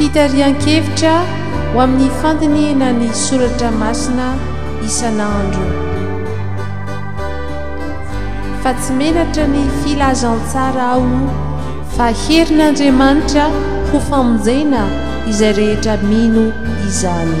Fitarihan-kevitra ho amin'ny fandinihina ny soratra masina isan'andro. Fa tsy menatra ny filazantsara aho fa herin'Andriamanitra ho famonjena izay rehetra mino izany.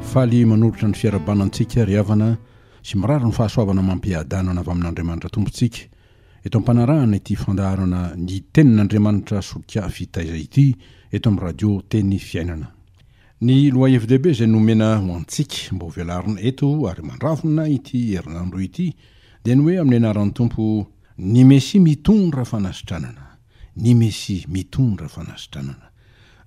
Faly manolotra ny fiarahabana antsika ry havana sy mirary ny fahasoavana amam-piadanana avy amin'Andriamanitra Tompontsika eto am-panarahana ity fandaharana Ny Tenin'Andriamanitra Solika Fitaiza ity eto amin'ny Radio Teny Fiainana. Ny lohahevi-dehibe izay nomena ho antsika mba ho velarina eto ary mandravona ity herinandro ity dia ny hoe amin'ny anaran'ny Tompo, ny Mesia mitondra fanasitranana. ny Mesia mitondra fanasitranana.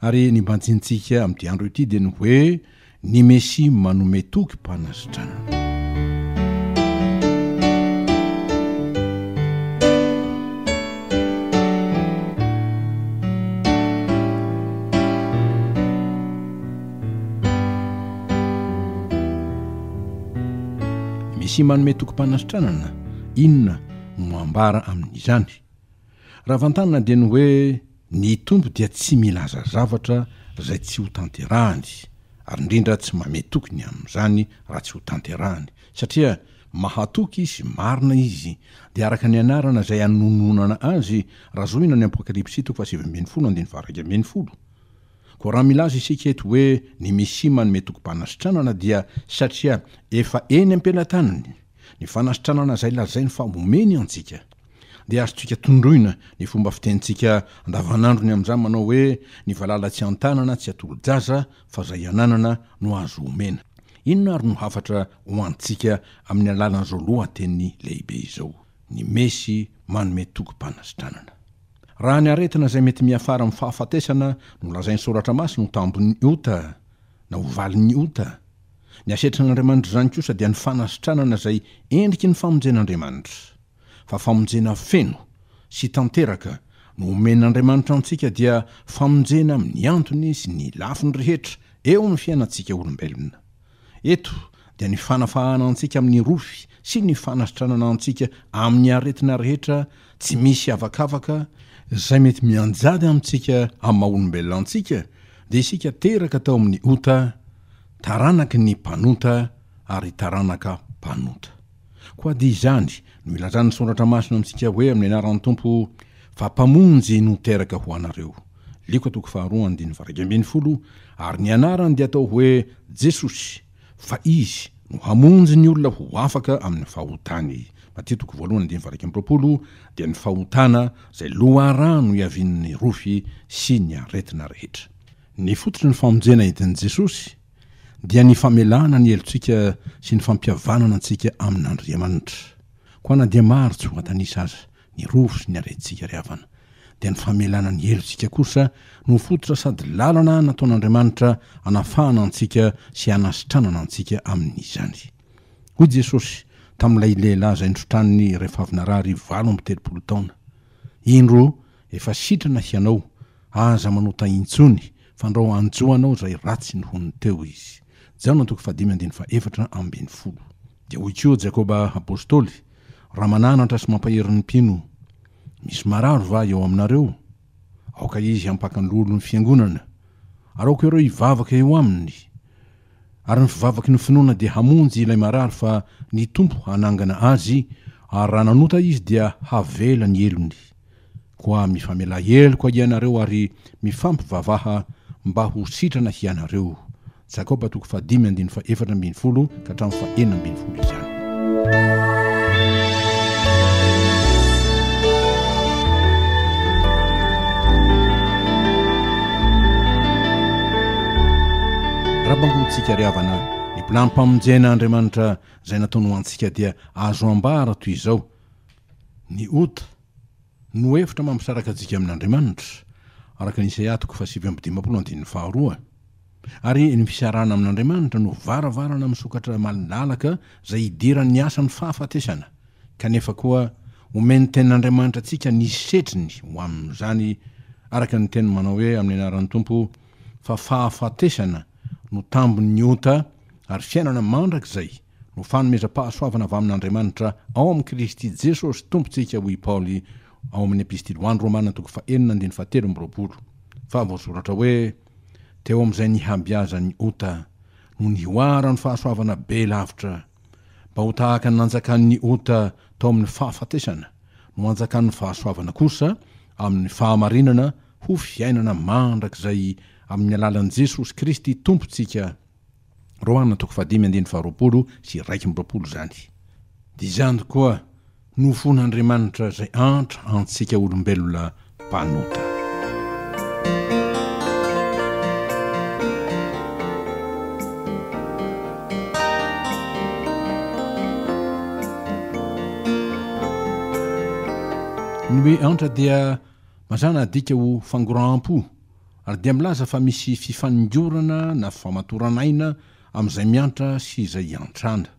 Ary ny banjintsika amin'ity andro ity dia ny hoe, Ny Mesia manome tokim-panasitranana. Mesia manome tokim-panasitranana, inona no ambara amin'izany? Raha vantanina dia ny hoe ny Tompo dia tsy milaza zavatra izay tsy ho tanterahany, ary indrindra tsy mame toky ny amin'izany raha tsy ho tanterahany, satria mahatoky Izy, marina Izy, dia araka ny anarana izay anononana Azy, raha zohina ny Apokalypsy toko fahasivy ambin'ny folo andininy faha-iraika ambin'ny folo. Koa raha milaza isika eto hoe ny Mesia manome tokim-panasitranana dia satria efa eny am-pelatanany ny fanasitranana izay lazainy fa homeny antsika. dia azontsika tondroina ny fomba fitenintsika andavanandrony amin'izany manao hoe, Ny valala tsy an-tanana tsy atolo-jaza fa izay ananana no azo omena. Inona ary no hafatra ho antsika amin'ny alalan'izao lohateny lehibe izao, Ny Mesy manome tokim-panasitranana? Raha ny aretina izay mety miafara amin'ny fahafatesana no lazain'ny Soratra Masina ho tambin'ny ota, na ho valin'ny ota, ny asetran'Andriamanitra izany kosa dia ny fanasitranana izay endriky ny famonjen'Andriamanitra. fa famonjena feno sy tanteraka no omen'Andriamanitra antsika dia famonjena amin'ny antony sy ny lafiny rehetra eo amin'ny fiainantsika olombelona. Eto dia ny fanafahana antsika amin'ny rofy sy ny fanasitranana antsika amin'ny aretina rehetra tsy misy avakavaka, izay mety mianjady amintsika amin'ny maha olombelona antsika, dia isika teraka tao amin'ny ota, taranaky ny mpanota ary taranaka mpanota. Koa dia izany no ilazan'ny Soratra Masina amintsika hoe amin'ny anaran'ny Tompo fa Mpamonjy no teraka ho anareo. Lioka toko faharoa andininy varaika ambin'ny folo Ary ny anarany dia atao hoe Jesosy fa Izy no hamonjy ny olona ho afaka amin'ny fahotany. Matia toko voalohany andininy varaika amby roapolo Dia ny fahotana izay loharano iavian'ny rofy sy ny aretina rehetra. Ny fototry ny famonjena entin'i Jesosy dia ny famelana ny helotsika sy ny fampihavanana antsika amin'Andriamanitra. Koa na dia maro tsy ho an-tanisa aza ny rofy sy ny harentsika ry havana, dia ny famelana ny helotsika kosa no fototra sady lalana nataon'Andriamanitra hanafahana antsika sy hanasitranana antsika amin'izany. Hoy Jesosy tamin'ilay lehilahy izay nosotrany rehefa avy narary valo amby telopolo taona, Indro, efa sitrana hianao, aza manota intsony, Fandrao anjo anao izay ratsy ny honiny teo izy. Jaona toko fahadimy andininy fahefatra ambin'ny folo. Dia hoy koa Jakoba apostoly, Raha mananatra sy mampahery ny mpino, misy marary va eo aminareo? Aoka izy hampaka ny lolon'ny fiangonana, ary aoka ireo hivavaka eo aminy, ary ny fivavaky ny finoana dia hamonjy ilay marary fa ny Tompo hanangana azy, ary raha nanota izy dia havela ny helony. Koa mifamela heloka hianareo ary mifampivavaha mba ho sitrana hianareo. Jakoba toko fahadimy andininy fahefatra ambin'ny folo ka hatramin'ny fahenina ambin'ny folo izany. Raha bangonintsika ry havana, ny bilampamon-jena Andriamanitra izay nataony ho antsika dia azo ambara toy izao, ny ota, no efitra mampisaraka antsika amin' Andriamanitra, araka ny Isaia toko fahasivy amby dimampolo andininy faharoa, ary ny fisarahana amin' Andriamanitra no varavarana misokatra malalaka izay hidiran' ny asan' ny fahafatesana, kanefa koa omen' ny Tenin' Andriamanitra antsika ny setriny ho amin' izany, araka ny teniny manao hoe amin' ny anaran' ny Tompo, fa fahafatesana no tambin' ny ota ary fiainana mandrakizay no fanomezam-pahasoavana avy amin'Andriamanitra ao amin'i Kristy Jesosy Tompontsika hoy i Paoly ao amin'ny Epistily ho an'ny Romana toko fahenina andininy fahatelo amby roapolo fa voasoratra hoe, Teo amin'izay nihabiazan'ny ota no nihoara ny fahasoavana be lavitra, mba ho tahaka ny nanjakan'ny ota tao amin'ny fahafatesana no anjakan'ny fahasoavana kosa amin'ny fahamarinana ho fiainana mandrakizay amin'ny alalan'i Jesosy Kristy Tompontsika. Rohana toko fahadimy andininy faharoapolo sy iraika amby roapolo izany. Dia izany koa no fon'Andriamanitra izay antra antsika olombelona mpanota. Ny hoe antra dia mazàna adika ho fangoraham-po. ary dia milaza fa misy fifaningorana na famatoran'aina amin'izay miantra sy izay iantrana.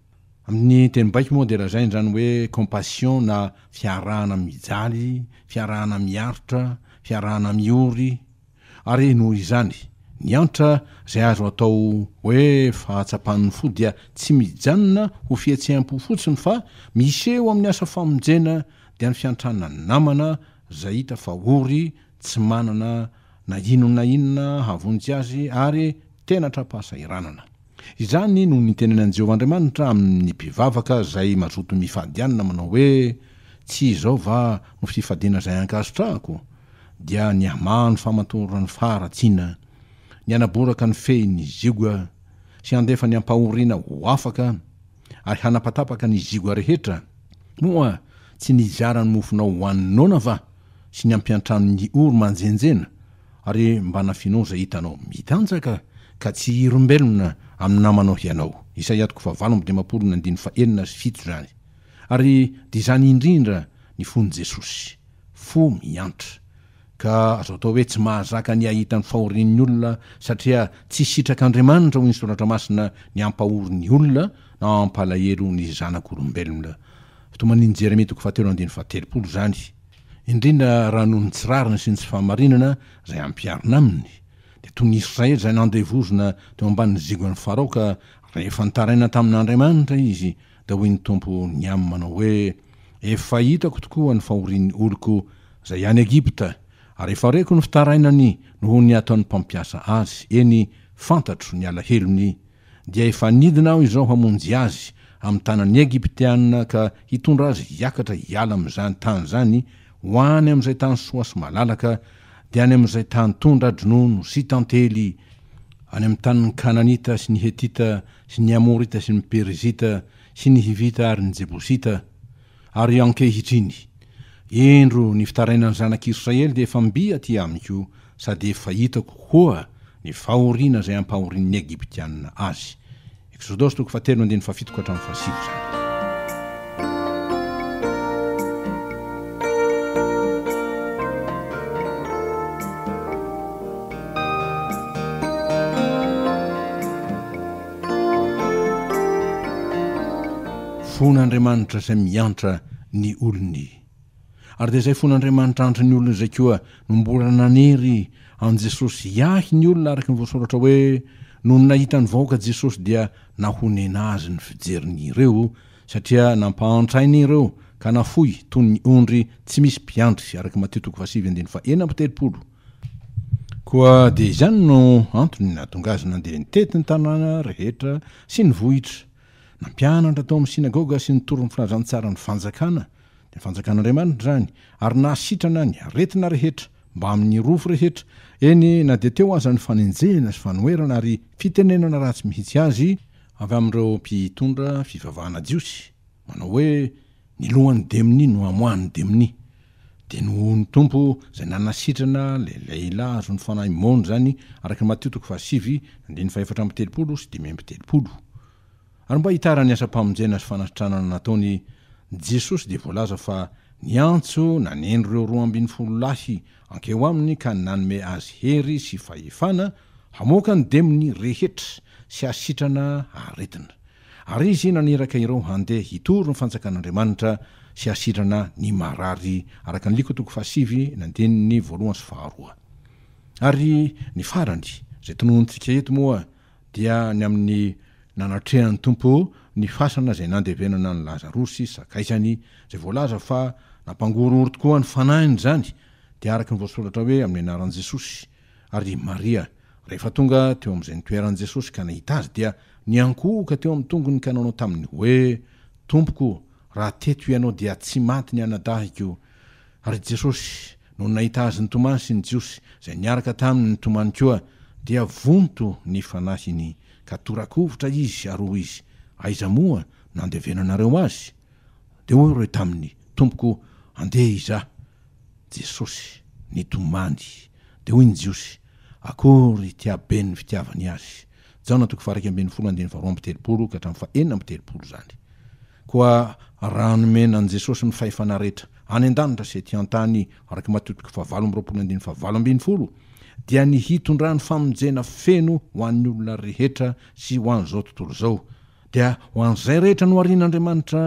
Amin'ny teny baiko moa dia lazaina izany hoe compassion na fiarahana mijaly, fiarahana miaritra, fiarahana miory, ary noho izany, ny antra izay azo atao hoe fahatsapan'ny fo dia tsy mijanona ho fihetseham-po fotsiny fa miseho amin'ny asa famonjena dia ny fiantrana namana, izay hita fa ory tsy manana na inona na inona hahavonjy azy ary tena tra-pahasahiranana. Izany no nitenenan'i Jehovah Andriamanitra amin'ny mpivavaka izay mazoto mifady anina manao hoe, Tsy izao va no fifadiana izay ankasitrahako? Dia nihamano ny famatoran-drano faharatsiana, ny hanaboraka ny fehin'ny ziogga, sy handefa ny ampahoriana ho afaka, ary hanapatapaka ny zigoa rehetra, moa tsy nizara ny mofonao ho an'ny noana va sy ny ampiantranon'ny ory manjenjena, ary mba nafinao izay hitanao mitanjaka, ka tsy hirombelona amin'ny namanao hianao. Isaia toko fahavalo amby dimampolo ny andininy fahenina sy fito izany. Ary dia izany indrindra ny fon'i Jesosy, fo miantra. Ka azo atao hoe tsy mahazaka ny hahita ny fahorian'ny olona satria tsy sitrak'Andriamanitra hoy ny Soratra Masina ny hampahory ny olona na hampalahelo ny zanak'olombelona. Fitomanin'i Jeremia toko fahatelo andininy fahatelopolo izany. Indrindra raha noho ny tsy rariny sy ny tsy fahamarinana izay ampiharina aminy, dia toy ny Israely izay nandevozina teo ambanin'ny zigon'i Farao ka rehefa nitaraina tamin'Andriamanitra izy Dia hoy ny Tompo ny aminy manao hoe, Efa hitako tokoa ny fahorian'ny oloko izay any Egypta, ary efa reko ny fitarainany noho ny ataon'ny mpampiasa azy, eny, fantatro ny alahelony, dia efa nidina Aho izao hamonjy azy amin'ny tanan'ny Egyptiana ka hitondra azy hiakatra hiala amin'izany tany izany ho any amin'izay tany soa sy malalaka, dia any amin'izay tany tondra-dronono sy tantely, any amin'ny tanin'ny Kananita sy ny Hetita sy ny Amorita sy ny Perizita sy ny Hivita ary ny Jebosita. Ary ankehitriny, indro, ny fitarainan'ny zanak'i Israely dia efa mby aty amiko, sady efa hitako koa ny fahoriana izay ampahorian'ny Egyptianina azy. Exodosy toko fahatelo andininy fahafito ka hatramin'ny fahasivy izany. Fon' Andriamanitra izay miantra ny olony. Ary dia izay fona Andriamanitra andry ny olona izay koa no mbola nanery an'i Jesosy hiahy ny olona araka ny voasoratra hoe nony nahita ny vahoaka Jesosy dia nahonena azy ny fijeriny ireo satria nampahantra aina ireo ka nafoy toy ny ondry tsy misy mpiandry araka i Matio toko fahasivy andininy fahena amby telopolo koa dia izany no antony nahatonga azy nandeha nitety ny tanàna rehetra sy ny vohitra nampianatra tao amin'ny synagoga sy nitory ny filazantsara ny fanjakana Ny Fanjakan'Andriamanitra izany, ary nahasitrana ny aretina rehetra, mbamin'ny rofy rehetra, eny na dia teo aza ny fanenjehana sy fanoherana ary fitenenana ratsy mihitsy azy avy amin'ireo mpitondra fivavahana jiosy, manao hoe, Ny lohan'ny demonia no amoahan'ny demonia. Dia nohon'ny Tompo izay nanasitrana ilay lehilahy azo ny fanahy maonjy izany, araka ny Matio toko fahasivy, andininy fahefatra amby telopolo sy dimy amby telopolo. Ary mba hitaran'ny asam-pamonjena sy fanasitranana nataon'i Jesosy dia voalaza fa niantso naneno ireo roa ambin'ny folo lahy ankeo aminy ka nanome azy hery sy fahefana hamoaka ny demony rehetra sy hasitrana aretina. Ary izy naniraka ireo handeha hitory ny fanjakan'Andriamanitra sy hasitrana ny marary araka ny Liko toko fahasivy ny andininy voalohany sy faharoa. Ary ny farany izay tononintsika eto moa dia ny amin'ny nanatrehan'ny Tompo ny fasana izay nandevenana an'i Lazarosy sakaizany, izay voalaza fa nampangorohoro tokoa ny fanahiny izany, dia araka ny voasoratra hoe amin'ny anaran'i Jesosy, ary i Maria, rehefa tonga teo amin'izay nitoeran'i Jesosy ka nahita Azy, dia niankohoka teo amin'ny tongony ka nanao taminy hoe, Tompoko, raha teto Ianao dia tsy maty ny anadahiko, Ary Jesosy, nony nahita azy nitomany sy ny Jiosy izay niaraka taminy nitomany koa, dia vonto ny fanahiny, ka tora-kovitra izy ary hoy izy, Aiza moa no nandevenanareo azy? Dia hoy ireo taminy, Tompoko, andeha izaho. Jesosy, nitomany. Dia hoy ny Jiosy, Akory ity haben' ny fitiavany azy! Jaona toko faha iraika ambin'ny folo andininy faharoa amby telopolo ka hatramin'ny faha enina amby telopolo izany. Koa raha nomena an'i Jesosy ny fahefana rehetra any an-danitra sy ety an-tany, araka i Matio toko fahavalo amby roapolo andininy fahavalo ambin'ny folo, dia ny hitondrany famonjena feno ho an'ny olona rehetra sy ho an'izao tontolo izao, dia ho an'izay rehetra noharian'Andriamanitra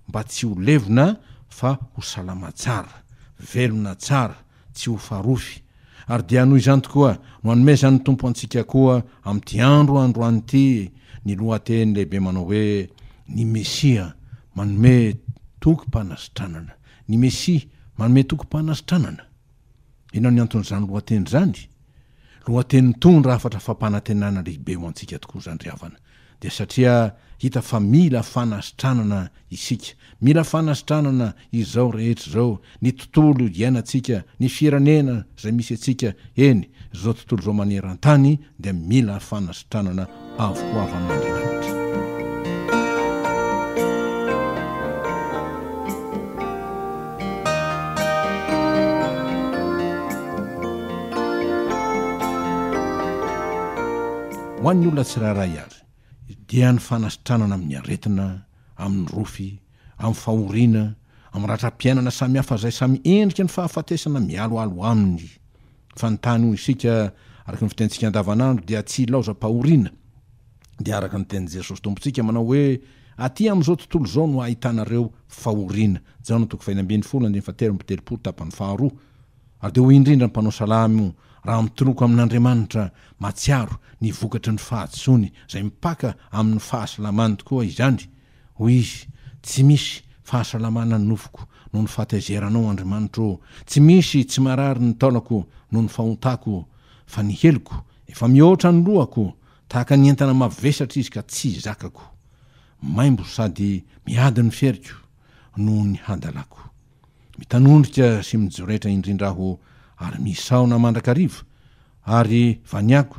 mba tsy ho levona fa ho salama tsara, velona tsara, tsy ho farofy, ary dia noho izany tokoa no anomezan'ny Tompo antsika koa amin'ity andro androany ity ny lohateny lehibe manao hoe Ny Mesia manome tokim-panasitranana. Ny Mesia manome tokim-panasitranana. Inona ny anton'izany lohateny izany? Lohateny mitondra hafatra fampanantenana lehibe ho antsika tokoa izany ry havana. dia satria hita fa mila fanasitranana isika. Mila fanasitranana izao rehetra izao, ny tontolo iainantsika, ny firenena izay misy antsika, eny, izao tontolo izao maneran-tany dia mila fanasitranana avy ho avy amin'Andriamanitra. Ho an'ny olona tsirairay ary, dia ny fanasitranana amin'ny aretina, amin'ny rofy, amin'ny fahoriana, amin'ny ratram-piainana samihafa izay samy endriky ny fahafatesana mialoalo aminy. Fanontany ho isika, araka ny fitenintsika andavanandro, dia tsy ilaozam-pahoriana. Dia araka ny tenin'i Jesosy Tompontsika manao hoe, Aty amin'izao tontolo izao no ahitanareo fahoriana. Jaona toko fahenina ambin'ny folo andininy fahatelo amby telopolo tapany faharoa. ary dia hoy indrindra ny mpanao salamo raha mitoloko amin'Andriamanitra mahatsiaro ny vokatry ny fahadisoany izay mipaka amin'ny fahasalamany tokoa izany, hoy izy, tsy misy fahasalamana ny nofoko noho ny fahataizeranao Andriamanitra ô, tsy misy tsy marary ny taolako noho ny fahotako, fa ny heloko efa mihoatra ny lohako, tahaka ny entana mavesatra izy ka tsy zakako, maimbo sady miady ny feriko noho ny hadalako. Mitanondrika sy mijoretra indrindra aho ary misaona mandrakariva, ary vaniako,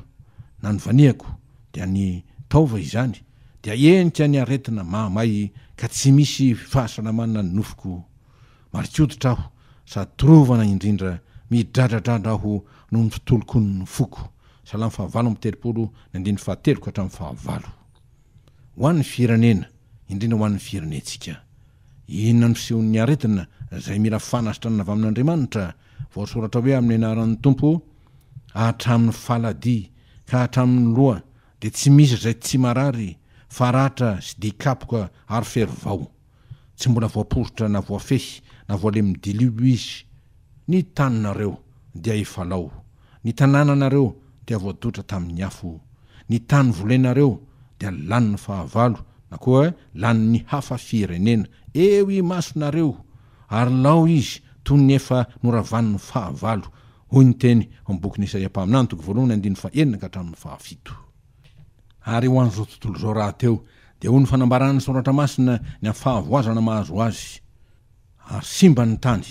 na ny vaniako, dia ny taova izany, dia henika ny aretina mahamay ka tsy misy fahasalamanana ny nofoko. Marikoditra aho sady torovana indrindra, midradradradra aho noho ny fitolokon' ny foko. Salamo fahavalo amby telopolo ny andininy fahatelo ka hatramin'ny fahavalo. Ho an'ny firenena, indrindra ho an'ny firenentsika. Inona no fisehon'ny aretina izay mila fanasitranana avy amin'Andriamanitra? Voasoratra hoe amin'ny anaran'ny Tompo hatramin'ny faladia ka hatramin'ny loha dia tsy misy izay tsy marary, faratra sy dian-kapoka ary fery vao. tsy mbola voaporitra na voafehy na voalemin'ny dilio izy, ny taninareo dia efa lao, ny tanànanareo dia voadotra tamin'ny afo, ny tany volenareo dia lanin'ny fahavalo na koa lanin'ny hafa firenena eo imasonareo, ary lao izy toy ny efa noravan'ny fahavalo, hoy ny teny ao amin'ny bokin'i Isaia mpaminany, toko voalohany, andininy fahenina ka hatramin'ny fahafito. Ary ho an'izao tontolo izao rahateo, dia hoy ny fanambaran'ny Soratra Masina, ny amin'ny fahavoazana mahazo azy, Ary simba ny tany,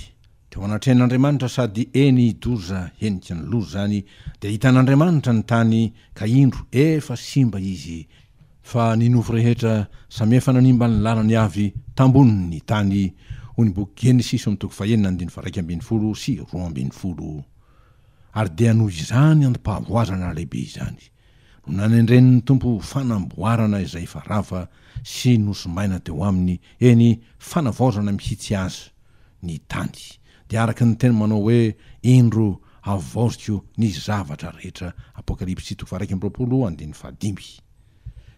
teo anatrehan'Andriamanitra, sady eny hidoza heniky ny loza izany, dia hitan'Andriamanitra ny tany, ka indro, efa simba izy, fa ny nofo rehetra samy efa nanimba ny lalany avy tambonin'ny tany, hoy ny boky Genesisy omy toko fahenina andininy faraika ambin'ny folo sy roa ambin'ny folo. Ary dia noho izany antom-pahavoazana lehibe izany no nanendren'ny Tompo ho fanamboarana izay efa rava sy nosimbaina teo aminy, eny, fanavaozana mihitsy aza, ny tany, dia araka ny teny manao hoe, Indro, havaoziko ny zavatra rehetra, Apokalypsy toko faha-iraika amby roapolo, andininy fahadimy.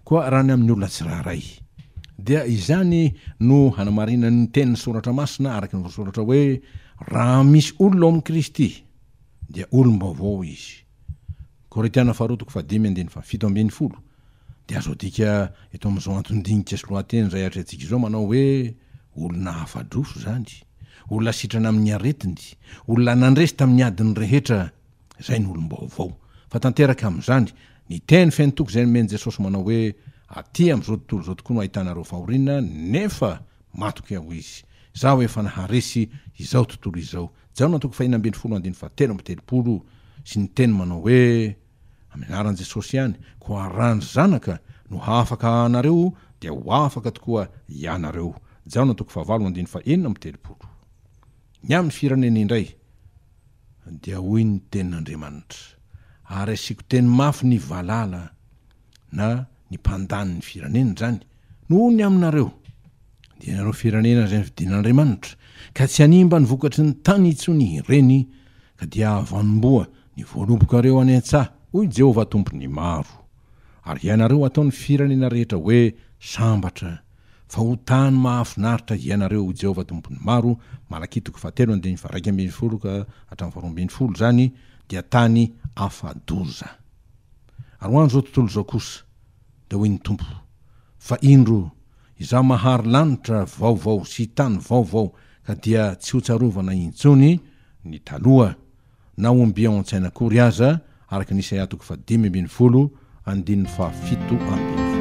Koa raha ny amin'ny olona tsirairay. Dia izany no hanamarinan'ny tenin'ny Soratra Masina araka ny voasoratra hoe, Raha misy olona ao amin'i Kristy, dia olom-baovao izy. Korintiana faharoa toko fahadimy andininy fahafito ambin'ny folo. Dia azo adika eto amin'izao anton-dinika sy lohateny izay atrehantsika izao manao hoe, olona afa-droso izany, olona sitrana amin'ny aretiny, olona nandresy tamin'ny adiny rehetra, Izay no olom-baovao. Fa tanteraka amin'izany, ny teny feno toky izay nomen'i Jesosy manao hoe, Atỳ amin'izao tontolo izao tokoa no ahitanareo fahoriana, nefa matokia hoy Izy, Izaho efa naharesy izao tontolo izao. Jaona toko fahiny ambin'ny folo andininy fahatelo amby telopolo sy ny teny manao hoe, Amin'ny anaran'i Jesosy ihany, koa raha ny Zanaka no hahafaka anareo, dia ho afaka tokoa ianareo. Jaona toko fahavalo andininy fahenina amby telopolo. Ny amin'ny firenena indray, dia hoy ny Tenin'Andriamanitra, ary asiako teny mafy ny valala na ny mpandany ny firenena izany, noho ny aminareo, dia ianareo firenena izay nofidian'Andriamanitra, ka tsy hanimba ny vokatry ny tany intsony ireny, ka dia hahavanomboa ny voalobokareo any an-tsaha, hoy i Jehovah Tompon'ny maro, ary ianareo hatao ny firenena rehetra hoe sambatra, fa ho tany mahafinaritra hiainareo ho Jehovah Tompon'ny maro, Malakia toko fahatelo andininy faharaika ambin'ny folo ka hatramin'ny faharoa ambin'ny folo izany dia tany afa-doza. Ary ho an'izao tontolo izao kosa, dia hoy ny Tompo, Fa indro, Izaho mahary lanitra vaovao sy tany vaovao, ka dia tsy hotsarovana intsony ny taloha, na omby ao an-tsaina akory aza, araka ny Isaia toko fahadimy ambin'ny folo, andininy fahafito ambin'ny folo.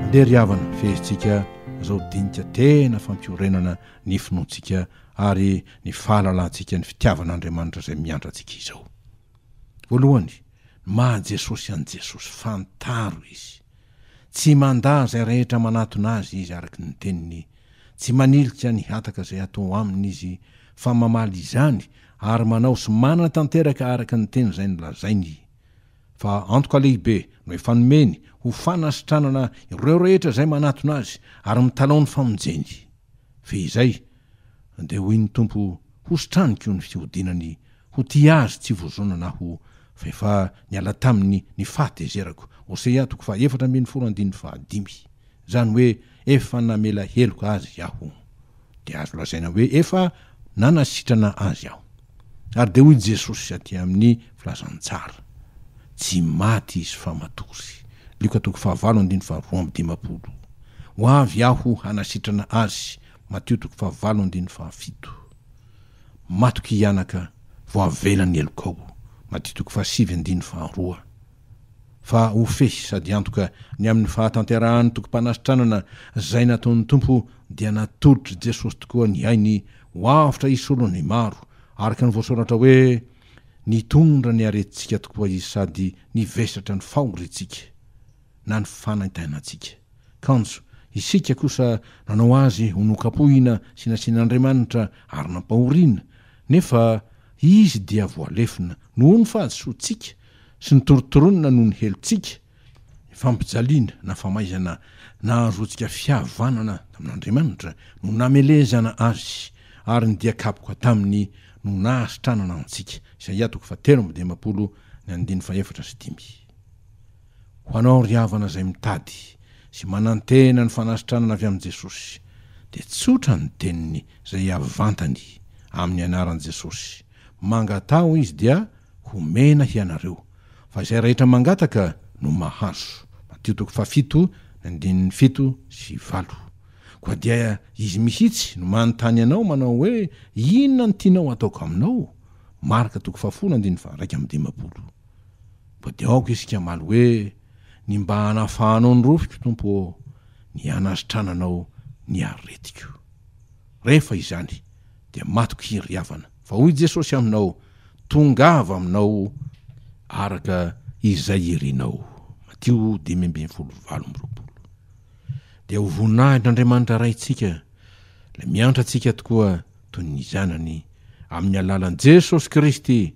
Andeha ry havana, fehezitsika izao dinika tena fampiorenana ny finoantsika ary ny fahalalantsika ny fitiavan'Andriamanitra izay miandry antsika izao. Voalohany, ny maha Jesosy an'i Jesosy, fantaro Izy. Tsy mandà izay rehetra manatona Azy Izy araka ny teniny, tsy manilika ny hataka izay atao aminy Izy fa mamaly izany ary manao sy manatanteraka araka ny teny izay nolazainy I. Fa antoka lehibe no efa nomeny ho fanasitranana ireo rehetra izay manatona Azy ary mitalaho ny famonjeny. Fehizay, dia hoy ny Tompo, hositraniko ny fihodinany ho tia Azy tsy vozonana Aho, fa efa niala taminy ny fahatezerako, Hosea toko fahaefatra ambin'ny folo andininy fahadimy. Izany hoe efa namela heloka azy Aho. Dia azo lazaina hoe efa nanasitrana azy Aho. Ary dia hoy Jesosy aty amin'ny Filazantsara, Tsy maty izy fa matory. Lioka toko fahavalo andininy faharoa amby dimampolo, Ho avy Aho hanasitrana azy, Matio toko fahavalo andininy fahafito, Matoky hianaka vao avela ny helokao, Matio toko fahasivy andininy faharoa. fa ho fehy sady antoka ny amin'ny fahatanterahan'ny tokim-panasitranana izay nataon'ny Tompo dia natolotr'i Jesosy tokoa ny ainy ho avotra hisolo ny maro, araka ny voasoratra hoe, Nitondra ny aretintsika tokoa Izy sady nivesatra ny fahoriantsika, na ny fanaintainantsika. Kanjo, isika kosa nanao Azy ho nokapohina sy nasian'Andriamanitra ary nampahoriana, nefa Izy dia voalefona noho ny fahadisoantsika sy ny torontoronina noho ny helotsika, ny fampijaliana na famaizana nahazoantsika fihavanana tamin'Andriamanitra no namelezana Azy, ary ny dia kapoka taminy no nahasitranana antsika. Isaia toko fahatelo amby dimampolo ny andininy fahefatra sy dimy. Ho anao ry havana izay mitady sy manantena ny fanasitranana avy amin'i Jesosy, dia tsotra ny teniny izay avantany amin'ny anaran'i Jesosy, Mangataho izy dia homena hianareo, fa izay rehetra mangataka no mahazo. Matio toko fahafito ny andininy fito sy valo. Koa dia izy mihitsy no manontany anao manao hoe inona no tianao hataoko aminao? Marka toko fahafolo andininy faharaika amby dimampolo. Koa dia aoka isika hamaly hoe ny mba hanafahanao ny rofiko Tompo ô, ny hanasitrananao ny aretiko. Rehefa izany, dia matoky iry havana. Fa hoy Jesosy aminao, Tongava aminao araka izay irinao. Matio dimy ambin'ny folo, valo amby roapolo. Dia ho voninahin'Andriamanitra Raintsika Ilay miantra antsika tokoa toy ny Zanany, amin'ny alalan'i Jesosy Kristy,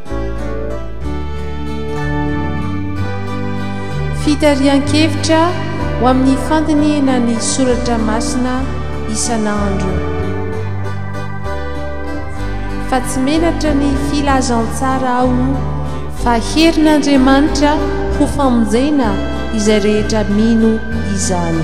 Fitarihan-kevitra ho amin'ny fandinihana ny soratra masina isan'andro. Fa tsy menatra ny filazantsara aho fa herin'Andriamanitra ho famonjena izay rehetra mino izany.